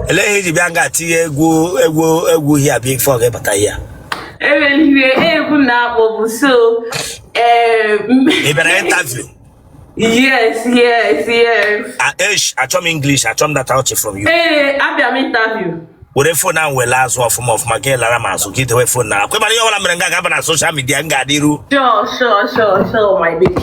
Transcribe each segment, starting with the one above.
Elee ihe iji bịa nga tinye egwu egwu egwu hia before gị abata hia? Eweliwe egwu na akpọ bụ so. Ị bịara interview? Yes, yes, yes. Eish, achọ m English, achọ m that out from you. Ee, abịa m interview. were fon ahụ were azụ ọfụma ọfụma ka ị lara m azụ ka ị dewe fon a ọkwa ịmara ihe ọbụla mere nga ga-aba na soshal midia m ga-adịru Sure, sure, sure, sure, my baby.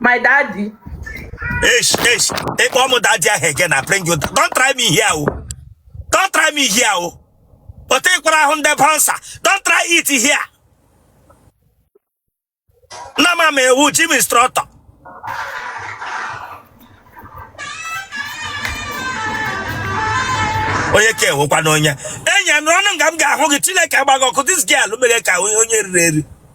my daddy Eish, eish. Take one more daddy ahụ again, I bring you. down. Don't try me here, oh. Don't try me here, oh. But take one ahụ ndị bansa. Don't try it here. Na m ama ị wu gym instructor. Onye ka ị wukwanụ nye. Enyi a nọrọnụ nga m ga-ahụ gị Chineke agba gị ọkụ. This girl mere ka onye onye riri eri.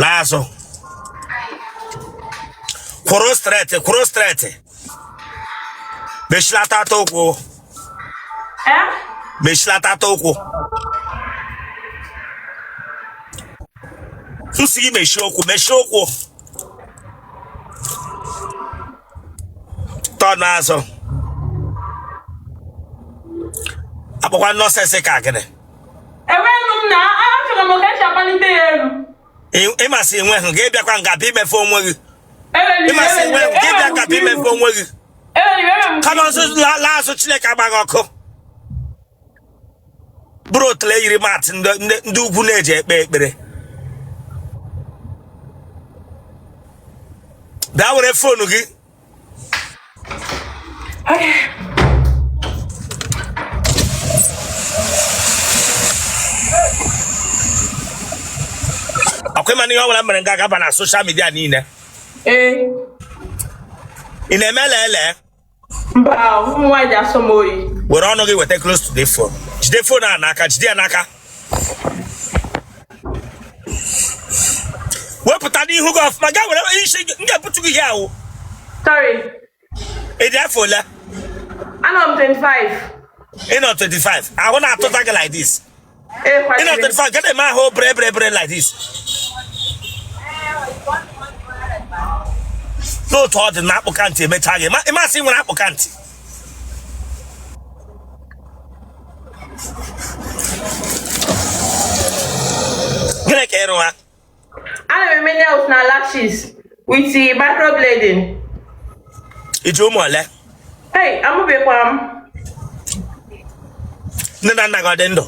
laa azụ kwụrụ straight kwụrụ straight mechilata ata ụkwụ mechilata ata ụkwụ m si gị mechie ụkwụ mechie ụkwụ turn azụ akpọkwa nonsense ka gịnị ịmasị enwe hụ gị bịakwa nga bịa imefọ onwe gị ịmasị enwe hụ gị bịa nga bịa imefọ onwe gị come on laa azụ chineke agba gị ọkụ buru otule yiri mat ndị ugwu na-eji ekpe ekpere bịa were phone gị ọkwa ịma na ihe ọ bụla mere nga ga-aba na soshal midia niile ee ị na-eme lele mba ụmụ nwaanyị ji asọ m oyi were ọnụ gị weta close to the phone jide phone a n'aka jide ya n'aka wepụta n'ihu gị ọfụma gaa were isi m ga-ebutu gị ihe ahụ Sorry, ị dị afọ ole anọ m 25. ị nọ 25 ahụ na-atụta gị like this ị nọ 25 gị na-eme ahụ bere bere bere like this n'otu ọ dị na akpụka ntị emecha gị ị ma sị i nwere akpụka ntị gịnị ka ị rụgha ana m eme nails na lashes with microblading i ji ụmụ ole ei amụbekwara m nne na nna gị ọ dị ndụ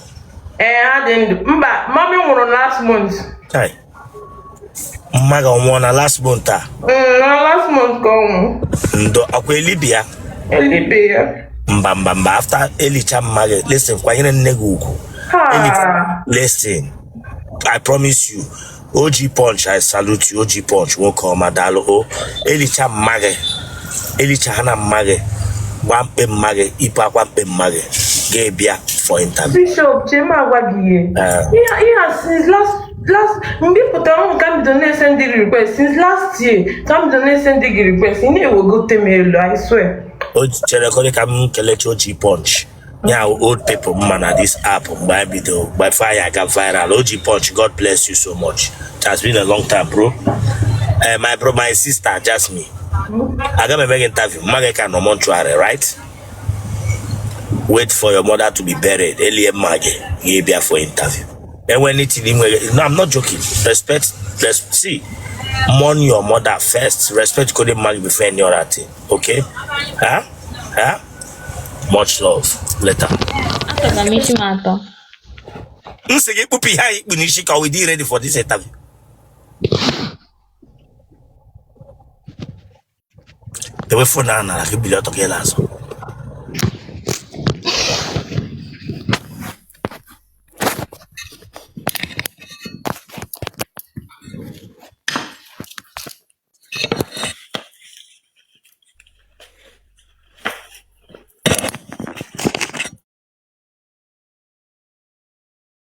ee ha dị ndụ mba mommy nwụrụ last month mma gị ọnwụọ na last month a Mm, na last month ka ọ nwụ ndo ọkwa elibi ya elibe ya mba mba mba after elicha mma gị listen kwanyere nne gị ugwu Ha. listen i promise you og punch i salute you og punch nwoke ọma daalụ o elicha mma gị elicha ha na mma gị gbaa mkpe mma gị yipụ akwa mkpe mma gị gị abịa for interview bishop chima agwa gị ihe Eh. ihe a since last last mgbe ị pụtara ọhụrụ ka m bido na-esendi gị request since last year ka m bido na-esendi gị request ị na-ewegote m elu I swear o chere ka ọ dị ka m kelechaa og punch ya wụ old people m ma na this app mgbe anyị bido before anyị aga viral og punch god bless you so much it has been a long time bro Eh, my bro my sister jasmine aga m eme gị interview mma gị ka nọ mortuary right wait for your mother to be buried elie mma gị gị abịa for interview enwe anything i nwere no i'm not joking respect res see mourn your mother first respect godu mma gị before any other thing okay ha ha much love later Achọrọ m isi m atọ. m sị gị kpupụ ihe ahụ i kpu n'isi ka we dey ready for this interview Dewe phone ahụ n'ala ka i bilie ọtọ ka ị la azụ.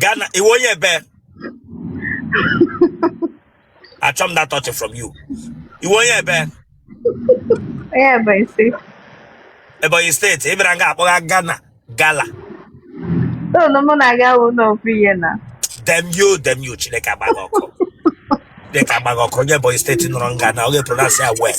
Ghana, ị wụ onye ebee. Achọm that touch from you. Ị wụ onye ebee. Onye ebee i si. Ebonyi State, ị bịara nga akpọga Ghana, Gala. Ụlọ mụ na gị awụna ofu ihe na. Damn you, damn you, Chineke agba gị ọkụ. Chineke agba gị ọkụ, onye Ebonyi State nọrọ nga na ọ ga-epronounce ya well.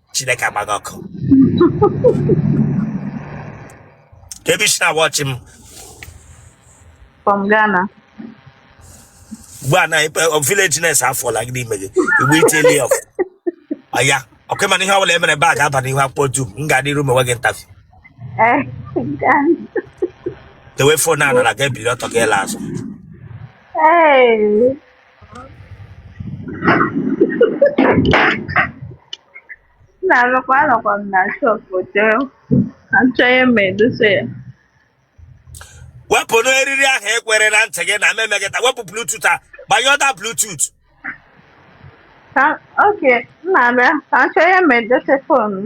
chineke agba gị ọkụ ka ebe i si na-awatch m from Ghana. ugbu a na villageness afọla gị n'ime gị igbe itili ọf ọya okay mana ihe ọbụla emere bag aba n'ihu akwụkwọ dum m ga-adịru mewe gị interview Eh, Ghana. dewe phone a n'ala gị ebili ọtọ gị ala azụ Hey. nna lekwa anọkwa m na shop jee achọ ihe m ga-edosa ya wepụna eriri ahụ ekwere na ntị gị na memegịta wepụ bluetooth a gbanye other bluetooth ka okay m na-abịa ka m chọọ ihe m ga-edosa phone m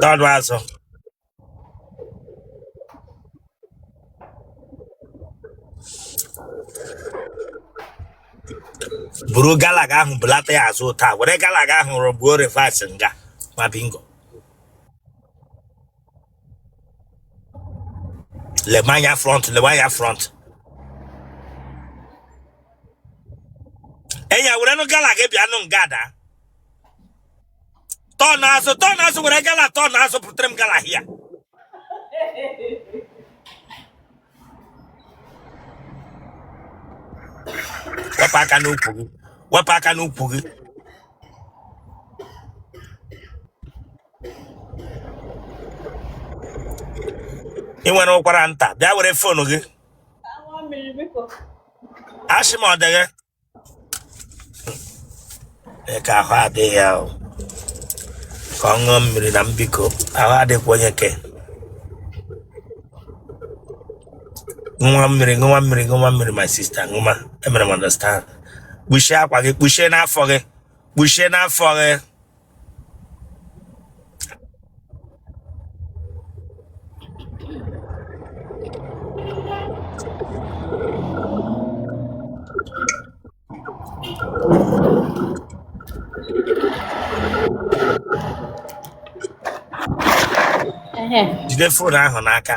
That was all. buru galaga ahụ bulata ya azụ taa were galaga ahụ rọgbuo reverse nga ma bingo lebe anya front lebe anya front enya werenụ gala gị bịanụ nga ada turn azụ turn azụ were gala turn azụ pụtara m gala here wepụ aka n'ukwu gị wepụ aka n'ukwu gị ị nwere ụkwara nta bịa were phone gị asị m ọ dị gị ka ahụ adịghị ya ka ọ ṅụọ mmiri na mbiko ahụ adịkwa onye ke nwa mmiri nwa mmiri nwa mmiri my sister ngwa emere m understand kpuchie akwa gị kpuchie n'afọ gị kpuchie n'afọ gị jide phone ahụ n'aka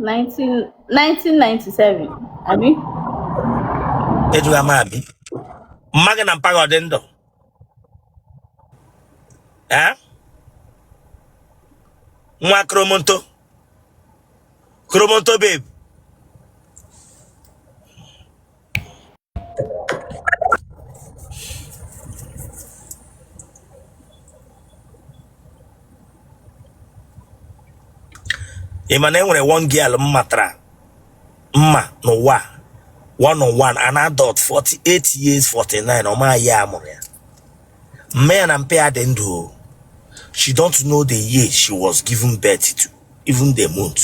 1997 abi ejughị ama abi mma gị na mpa gị ọ dị ndụ ee nwa kromonto kromonto babe ị ma na enwere one girl m matara mma n'ụwa one on one an adult 48 years 49 ọ maghị year amụrụ ya mma ya na mpa ya dị ndụ o she don't know the year she was given birth to even the month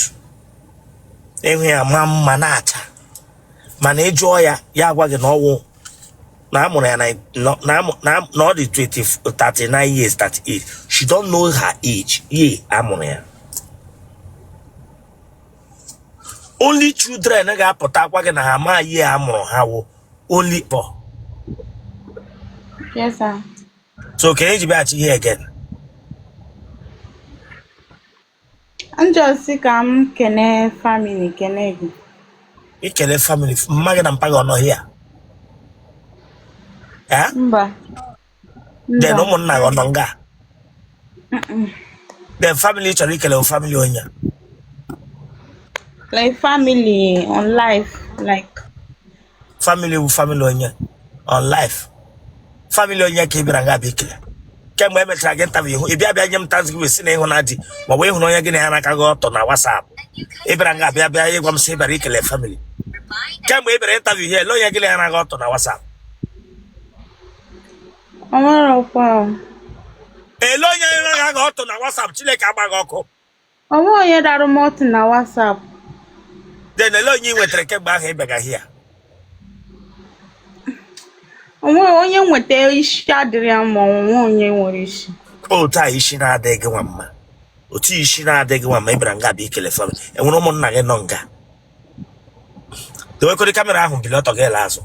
enwe ya ma mma na-acha mana ị jụọ ya ya agwa gị na ọwụ na amụrụ ya na na- na amụ- na na ọ dị 20 39 years 38 she don't know her age year amụrụ ya only children ga-apụta agwa gị na ha ma year a mụrụ ha wụ only pọ Yes, sir. so kee ihe i ji bịaghachi here again M just sị ka m kene family kene gị. Ikele family mma gị na mpa gị ọ nọ here. Eh? Mba. Then ụmụnna gị ọ nọ nga. Then family ị chọrọ ikele family onye. Like family on life like family wụ family onye on life family onye ka ị bịara nga bịa ikele kemgbe e mechara gị interview ị bịa bịa nye m thanksgiving sị na ị hụna di ma ọ bụ ị hụrụ onye gị na ya n'aka gị ọtọ na WhatsApp ị bịara nga bịa bịa ịgwa m sị ị bịara ikele family kemgbe ị bịara interview here ele onye gị na ya n'aka ọtọ na WhatsApp Ọ marọkwa o. ele onye na-aga gị ọtọ na WhatsApp Chineke agba gị ọkụ O nwe onye dara m ọtụ na WhatsApp. Then ele onye i nwetara kemgbe ahụ ị bịaga here. Onye nweta isi adịrị ya mma onye nwere isi. Otu a isi na-adịghị gị nwa mma. Otu isi na-adịghị gị nwa mma ị bịara nga bịa ikele family. E nwere ụmụnna gị nọ nga. dowekọrị camera ahụ bili ọtọ gị laa azụ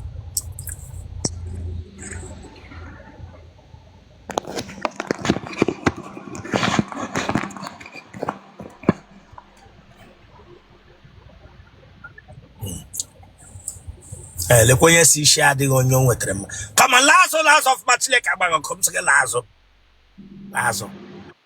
Eh, lekwa onye sị isi adịghị onye o nwetara mma kama laa azụ laa azụ ọfụma Chineke agba gị ọkụ m sị gị laa azụ laa azụ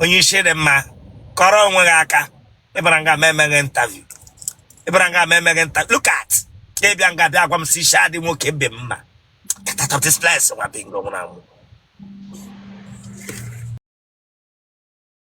onye isi dị mma kụọrọ onwe gị aka ị bịara nga m emee gị interview ị bịara nga m emee gị interview look at ị bịa nga bịa agwa m sị isi adị nwoke be mma get out of this place nwa bingo nwụrụ anwụ